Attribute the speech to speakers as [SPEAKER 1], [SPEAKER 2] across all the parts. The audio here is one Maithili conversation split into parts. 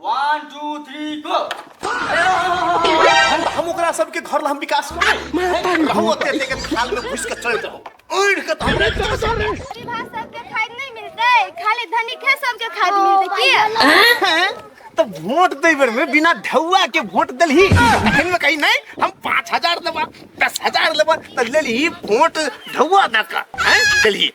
[SPEAKER 1] वन टू थ्री गो
[SPEAKER 2] हम ओकरा सबके घर ला हम विकास रहू ओते ओते के थाल में घुस के चल जाओ उड़ के तो हमरा के सब रे विवाह
[SPEAKER 3] सबके खाद नहीं मिलते खाली धनिक है सबके खाद मिलते की हैं? तो वोट
[SPEAKER 2] दे बेर में बिना ढौआ के वोट दलही एहन में कहीं नहीं हम पाँच हजार लेबा दस हजार लेबा तो लेलही वोट ढौआ दका हैं दलही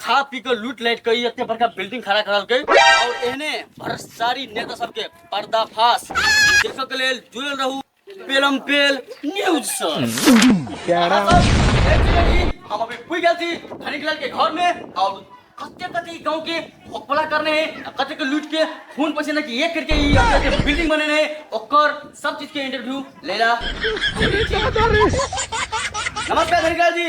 [SPEAKER 1] खा पी के लूट लाइट के ई एते बड़का बिल्डिंग खड़ा करलकै और एहने भ्रष्टाचारी नेता सबके पर्दाफाश देखऽ के लेल जुड़ल रहू पेलम पेल न्यूज से प्यारा हम अभी पूछ गए थी धनिक लाल के घर में और कते कते ई गांव के भोकपला करने हैं आ कते के लूट के खून पसीना की एक करके ई अपने के बिल्डिंग बने हैं ओकर सब चीज के इंटरव्यू लेला नमस्कार धनिक लाल जी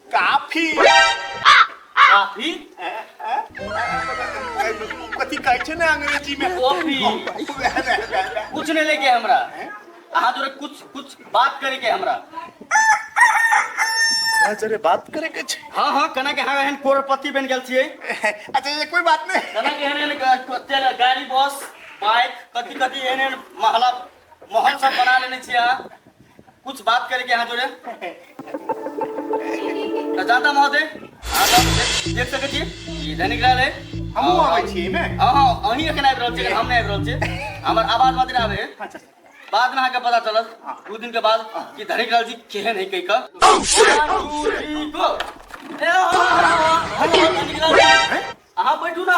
[SPEAKER 2] काफी काफी कथी कहै छै ने अंग्रेजी में कॉफी
[SPEAKER 1] कुछ नहीं लेके हमरा अहाँ जोरे कुछ कुछ बात करे के हमरा
[SPEAKER 2] हाँ जरे बात करे के छै हाँ हाँ कना के हाँ एहन
[SPEAKER 1] करोड़पति बन गेल छियै अच्छा ये कोई
[SPEAKER 2] बात नहीं कना के एहन एहन ग-
[SPEAKER 1] ग- तेल- गाड़ी बस बाइक कथी कथी एहन एहन महला माहौल सब बना लेने छी अहाँ कुछ बात करे के अहाँ जोड़े तऽ जाता महोदय अहाँ सब देख- देख सकै छियै ई दैनिक रहल है हमहूँ अबै छी
[SPEAKER 2] एहिमे हँ हँ अहीं एखन
[SPEAKER 1] आबि रहल छियै हम नहि आबि रहल छियै हमर आवाज मात्र आबे है अच्छा बाद
[SPEAKER 2] में अहाँके
[SPEAKER 1] पता चलत दू दिन के बाद कि धनिक लाल जी केहन है कहि कऽ अहाँ बैठू ना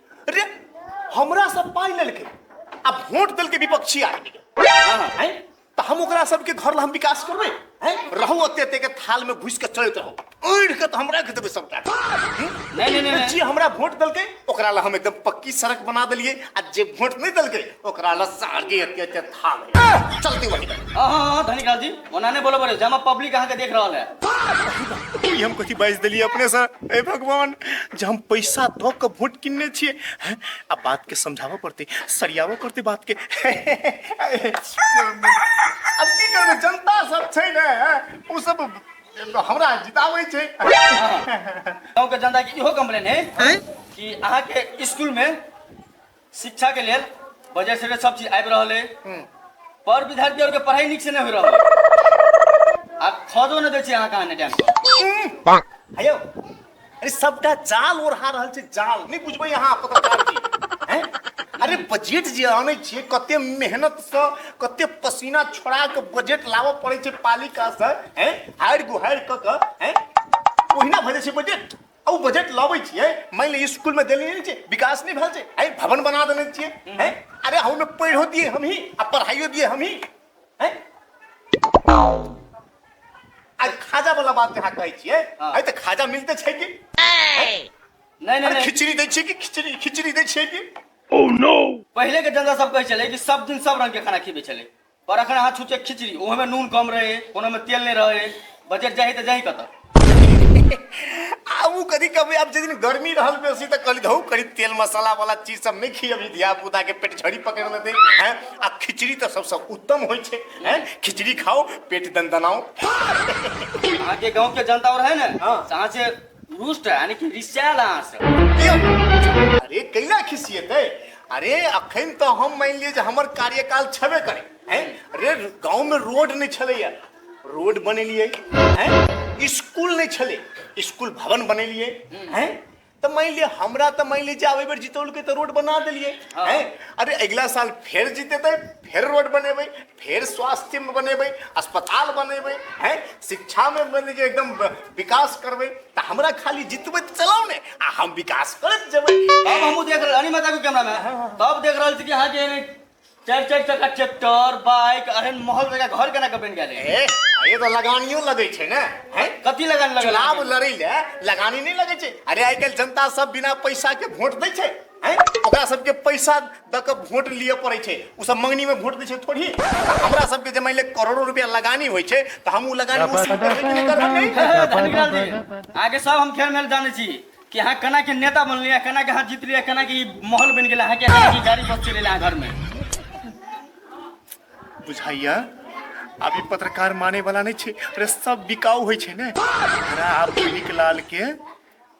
[SPEAKER 2] अरे हमरा सब पाई लेलके आ वोट देलके विपक्षी आदमी के हैं? तो हम ओकरा सबके घर ला हम विकास करबे हैं? रहू अते अते के थाल में घुस के चलत रहू उड़ के तो हमरा के देबे सबटा हैं? नहीं, नहीं, नहीं।
[SPEAKER 1] जी हमरा वोट
[SPEAKER 2] देलके ओकरा ला हम एकदम पक्की सड़क बना देलिए आ जे वोट नहीं देलके ओकरा ला सागे अते अते खा गए चलती वही में हाँ हाँ हाँ धनिकाल
[SPEAKER 1] जी ओना नहीं बोलो बोले जमा पब्लिक अहाँ के देख रहा है ई हम कथी बाजि
[SPEAKER 2] देलियै अपने से ए भगवान जे हम पैसा दऽ कऽ वोट किनने छियै हैं, आ बात के समझाबऽ पड़तै सरियाबऽ पड़तै बात के अब की करबै जनता सब छै ने हैं, ओ सब हमरा जिताबै छै
[SPEAKER 1] गाँव के जनता के इहो कम्प्लेन है कि अहाँ के स्कूल में शिक्षा के लेल बजट से सब चीज आबि रहल है पर विद्यार्थी और के पढ़ाई निक से नहीं हो रहल है आ खदो न दे छी अहाँ कहाँ ने टाइम पर हयो
[SPEAKER 2] अरे सबटा जाल ओढ़ा रहल छै जाल नहीं बुझबै अहाँ पत्रकार जी हैं? अरे बजट जे आनै छियै कते मेहनत सँ कते पसीना छोड़ा के बजट लाबऽ पड़ै छै पालिका सँ हैं हारि गुहारि कऽ कऽ हैं ओहिना भऽ जाइ छै बजट आ ओ बजट लाबै छियै मानि लिअ स्कूलमे देने नहि छै विकास नहि भेल छै आइ भवन बना देने छियै हैं अरे हम पढ़ो दिए हमही आ पढ़ाइयो दिए हमही हैं आज खाजा वाला बात जहाँ कहै छियै हाँ। आइ तऽ खाजा मिलते छै कि नहीं
[SPEAKER 1] नहीं अरे नहीं खिचड़ी दै छियै
[SPEAKER 2] कि खिचड़ी खिचड़ी दै छियै कि
[SPEAKER 1] पहले के जनता सब कहे चले कि सब दिन सब रंग के खाना खिबे चले पर अखन अहाँ छुचे खिचड़ी ओहे में नून कम रहे कोनो में तेल नहीं रहे बजट जाही तो जाही कत आबू
[SPEAKER 2] कदी कभी आब जे दिन गर्मी रहल बेसी तऽ कहली धौ करी तेल मसाला वाला चीज सब नहीं खियबी धिया पुता के पेट झड़ी पकड़ लेते हैं आ खिचड़ी तऽ सबसे उत्तम होय छै हैं खिचड़ी खाओ पेट दनदनाओ
[SPEAKER 1] अहाँ के गांव के जनता और है ना हाँ। से अहाँ से रुष्ट यानी कि रिसायल अहाँ से अरे
[SPEAKER 2] कैना खिसियेतै अरे अखन तऽ हम मानि लिअ जे हमर कार्यकाल छेबे करै हैं अरे गाँवमे रोड नहि छलैए रोड बनेलियै हैं स्कूल नहि छलै स्कूल भवन बनेलियै हैं तऽ मानि लिअ हमरा तऽ मानि लिअ जे आब एहि बेर जितौलकै तऽ रोड बना देलियै हैं अरे अगिला साल फेर जितेतै फेर रोड बनेबै फेर स्वास्थ्यमे बनेबै अस्पताल बनेबै हैं शिक्षामे बने जे एकदम ब- विकास करबै तऽ हमरा खाली जितबै तऽ चलाउ ने आ हम विकास करैत जेबै तब हमहूँ देख रहल अरे
[SPEAKER 1] माता को कैमरा में तब देख रहल छी कि अहाँ के चारि चारि चक्का ट्रैक्टर बाइक अरे महल जगह घर केना के बनि गेल है? ए ये तो लगानियो
[SPEAKER 2] लगै छै ने हैं कथी लगन लगल चुनाव
[SPEAKER 1] लड़ै ले
[SPEAKER 2] लगानी नहि लगै छै अरे आइ काल्हि जनता सब बिना पैसा के वोट दै छै हैं ओकरा सबके पैसा द के वोट लिए पड़े छे उ सब मंगनी में वोट दे छे थोड़ी हमरा सबके जे मान ले करोड़ों रुपया लगानी होय छे त हम उ लगानी वसूल करबे कि नहीं करबे नहीं धनिकाल जी
[SPEAKER 1] आगे सब हम खेल मेल जाने छी कि हाँ कना के नेता बनली है कना के हाथ जीत लिया कना के ई माहौल बन गेला है कि कना के गाड़ी बस चले है घर में
[SPEAKER 2] बुझाइया अभी पत्रकार माने वाला नहीं छे अरे सब बिकाऊ होय छे ने हमरा आप पीली के लाल के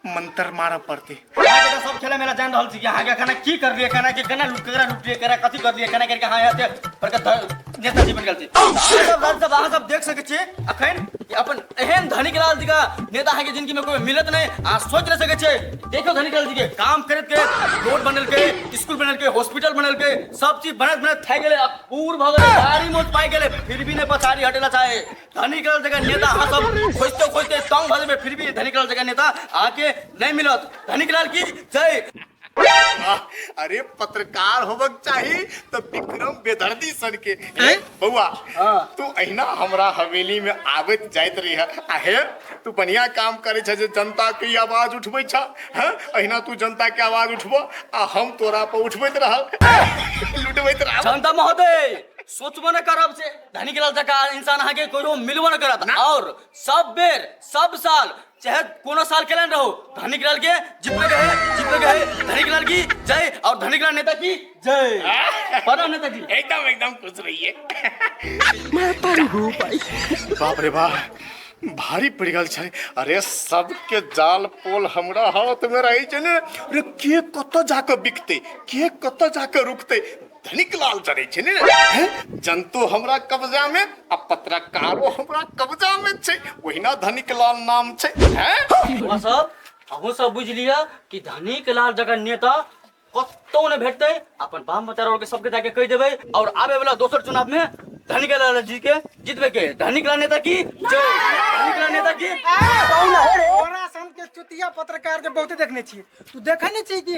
[SPEAKER 2] मंत्र मारऽ पड़तै अहाँ के सब खेला
[SPEAKER 1] मेला जान रहल छी कि अहाँ के केना की कर लिए केना के केना लुट केकरा लुट लिए केकरा कथी कर लिए केना करके अहाँ एते बड़का ध- नेता जी बन गेल छी अहाँ सब लाल साहब अहाँ सब देख सकै छी अखन कि अपन एहन धनिक लाल जी का नेता अहाँ के जिंदगी में कोई मिलत नहीं अहाँ सोच रह सकै छी देखो धनिक लाल जी के काम करत के रोड बनल के स्कूल बनल के हॉस्पिटल बनल के सब चीज बनत बनत थाक गेले अब पूर भ गेले गाड़ी मोट पाई गेले फिर भी नहीं पछाड़ी हटेला चाहे धनी करल जगह नेता अहाँ सब खोजते खोजते तंग भऽ जेबै फिर भी धनी करल जगह नेता अहाँके नहि मिलत धनी करल की जय
[SPEAKER 2] अरे पत्रकार होबक चाही तो विक्रम बेदर्दी सर के ए, बौआ हाँ। तू अहिना हमरा हवेली में आबत जाइत रही है आहे तू बढ़िया काम करे छ जे जनता के ई आवाज उठबै छ हैं? अहिना तू जनता के आवाज उठबो आ हम तोरा पर उठबैत रहल लुटबैत रहल जनता महोदय
[SPEAKER 1] सोचबो नहि करब से धनिक लाल जका इंसान अहाँ के कहियो मिलबो न करत और सब बेर सब साल चाहे कोनो साल केलन रहो धनिक लाल के जितने गए जितने गए धनिक लाल की जय और धनिक लाल नेता की जय प्रणाम नेता
[SPEAKER 2] जी एकदम एकदम खुश रहिए बाप रे बाप भारी पड़ गल छै अरे सबके जाल पोल हमरा हाथ में रही छै ने अरे के कत जाके बिकते के कत जाके रुकते धनिक लाल चढ़ै छै ने जनतो हमरा कब्जा में आ पत्रकारो हमरा कब्जा में छै ओहिना धनिक लाल नाम छै हैं सब अहूँ
[SPEAKER 1] सब बुझ लिया कि धनिक लाल जगह नेता कतौ ने भेटते अपन बाम बच्चा और के सबके जाके कह देबे और आवे वाला दोसर चुनाव में धनिक लाल जी के जीतबे के धनिक लाल नेता की जय धनिक लाल नेता की कौन है रे?
[SPEAKER 4] तोरा सन के चुतिया पत्रकार जे बहुते देखने छी तू देखे ने छी कि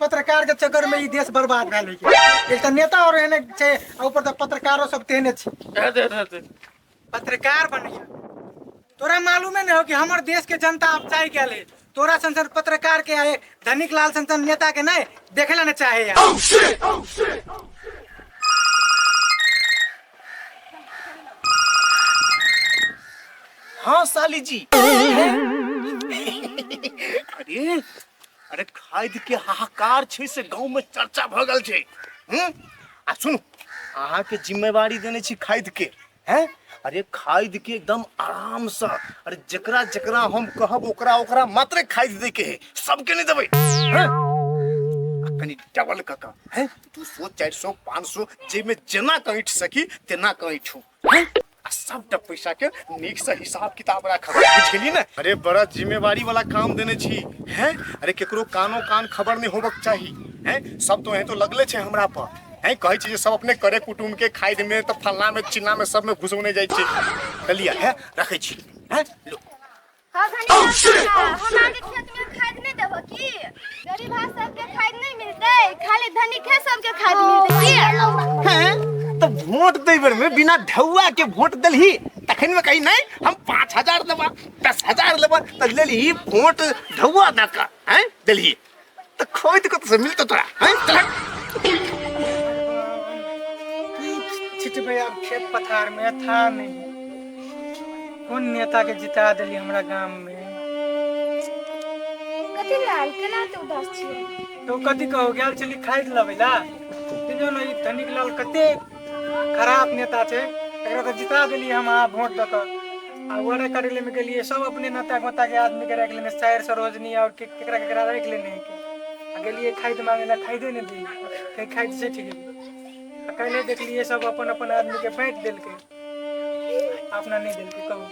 [SPEAKER 4] पत्रकार के चक्कर में ई देश बर्बाद भए गेलै के। एक तऽ नेता और एहने छै आ ऊपर तऽ पत्रकारो सब तेहने छै दे दे दे दे पत्रकार बनैया तोरा मालूमे नहि हो कि हमर देश के जनता अब चाहि गेल है तोरा सन सन पत्रकार के आए धनिक लाल सन सन नेता के नहीं देखे ला न चाहे यार
[SPEAKER 2] हाँ साली जी अरे अरे खाद के हाहाकार छै से गांव में चर्चा भ गेल छै हम्म? आ सुनू अहाँ के जिम्मेवारी देने छी खाद के हैं अरे खाद के एकदम आराम से अरे जकरा जकरा हम कहब ओकरा ओकरा मात्र खाद दे के है सबके नहीं देबै हैं? आ कनी डबल कका हैं तू सो चारि सौ पाँच सौ जाहिमे जेना कहीट सकी तेना कहीट हूँ आ सबटा पैसा के नीक से हिसाब किताब राखब बुझली ने अरे बड़ा जिम्मेवारी वाला काम देने छी हैं अरे केकरो कानो कान खबर नहीं होबक चाही हैं सब तो हैं तो लगले छे हमरा पर हैं कहै छी जे सब अपने करे कुटुम के खाइ में तो फलना में चिल्ला में सब में घुसौने जाइ छी चलिया है रखै छी हैं लो
[SPEAKER 3] तो
[SPEAKER 2] वोट दे बेर में बिना ढौआ के वोट दलही तखन में कही नहीं हम पाँच हजार लेबा दस हजार लेबा तो ले ली वोट ढौआ दऽ कऽ हैं दलही तो खोई तो कत से मिलता तोरा हैं चल
[SPEAKER 4] छिट भैया अब खेत पथार में था नहीं कौन नेता के जिता दिली हमरा गांव में कथी लाल केना तू
[SPEAKER 3] उदास छियै तो कथी कहो गेल
[SPEAKER 4] चली खाइ लबैला देखियौ ने ई धनिक लाल कते खराब नेता छै एकरा तऽ जिता देलियै हम अहाँ वोट दऽ कऽ आ वरे करै लेमे गेलियै सब अपने नाता गोता के आदमी के राखि लेने सैर सरोजनी और के- केकरा केकरा राखि लेने है के। आ गेलियै खाइत मांगे ला खाइदे नहि दी कहीं खाइत से ठीक आ कैले देखलियै सब अपन अपन आदमी के बाँटि देलकै अपना नहि देलकै कहू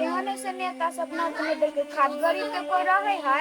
[SPEAKER 4] एहन ऐसे
[SPEAKER 3] नेता सब ना अपने देखे खाद गरीब के कोई रहे है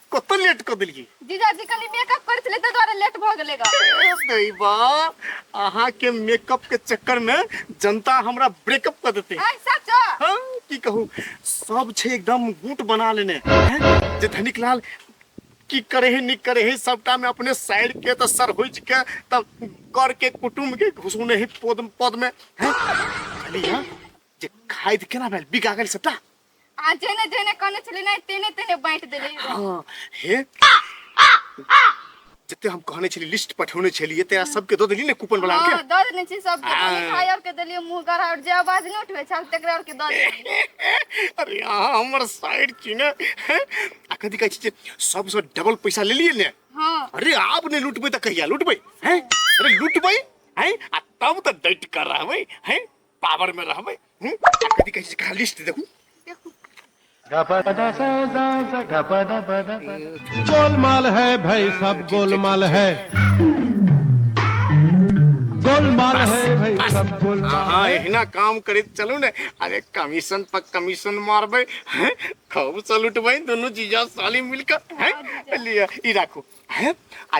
[SPEAKER 2] कत लेट क देलिए जीजा जी कनी मेकअप
[SPEAKER 3] कर छले त द्वारा लेट भ गेले ग नहीं बा
[SPEAKER 2] अहा के मेकअप के चक्कर में जनता हमरा ब्रेकअप कर देते हां सच हां
[SPEAKER 3] की कहू
[SPEAKER 2] सब छे एकदम गुट बना लेने जे धनिक लाल की करे है निक करे है सबटा में अपने साइड के तो सर हो के तब कर के कुटुम के घुसने है पद पद में है खाली हां जे खाइद केना भेल बिका गेल सबटा आ जेने
[SPEAKER 3] जेने कहने छली नहीं तेने तेने बांट देले हाँ हे
[SPEAKER 2] जते हम कहने छली लिस्ट पठौने छलिए तेरा सबके दो देली ने कूपन वाला के हाँ दो देने छी सब के
[SPEAKER 3] हाँ। मिठाई और के देलिए मुंह गरा और जे आवाज नहीं उठवे छल तकरा और के दो देलिए अरे यहाँ हमर
[SPEAKER 2] साइड छी ने हैं? आ कथी कहै छी जे सबसँ डबल पैसा ले लिए ने हां अरे आप
[SPEAKER 3] ने
[SPEAKER 2] लूटबै तऽ कहिया लूटबै हैं अरे लूटबै हैं आ तब तऽ डट कर रहबै हैं पावर में रहबे हम्म? कथी कहै छै कहाँ
[SPEAKER 5] लिस्ट देखू गोलमाल है भाई सब गोलमाल है गोलमाल है भाई सब गोलमाल अहाँ एहिना काम
[SPEAKER 2] करैत चलू ने अरे कमीशन पर कमीशन मारबै हैं? खूब से लुटबै दुनू जीजा साली मिलकर हैं? लिअ ई राखू हैं? आ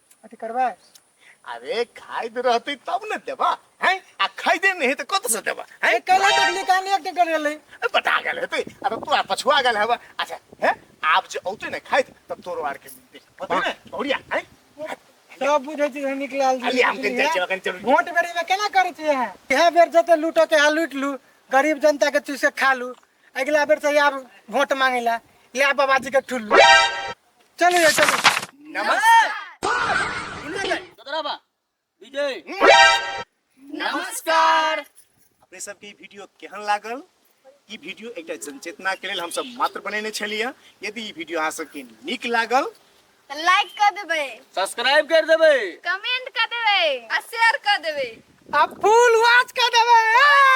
[SPEAKER 4] अथी करबै अरे
[SPEAKER 2] खाइत रहती तब ने देबा हैं आ खैदे नहीं तो कत से देबा हैं कल देखली कान एक
[SPEAKER 4] दिन कर रहले बता गेल हेते
[SPEAKER 2] अरे तू आ पछुआ गेल हेबा अच्छा हैं आप जे औते ने खाइत तब तोरो आर के देख पता ने बढ़िया हैं सब
[SPEAKER 4] बुझे छी हम निकलाल जी अली हम के जाय जगन चलू
[SPEAKER 2] वोट बेरी में केना
[SPEAKER 4] करे छी है यह बेर जते लूटो के हाल लूट लू गरीब जनता के चूसे खा लू अगला बेर से आब वोट मांगेला या बाबाजी के ठुल्लू चलो ये चलो
[SPEAKER 1] नमस्कार विजय
[SPEAKER 2] नमस्कार अपने सबके ई वीडियो केहन लागल ई वीडियो एकटा जनचेतना के लेल हमसब मात्र बनेने छलियै यदि ई वीडियो अहाँ सबके नीक लागल तऽ लाइक
[SPEAKER 3] कऽ देबै सब्सक्राइब कर
[SPEAKER 1] देबै कमेंट
[SPEAKER 3] कऽ
[SPEAKER 4] देबै
[SPEAKER 1] आ
[SPEAKER 4] शेयर
[SPEAKER 3] कऽ देबै आ
[SPEAKER 4] फूल
[SPEAKER 3] वाच कऽ
[SPEAKER 4] देबै
[SPEAKER 3] आ!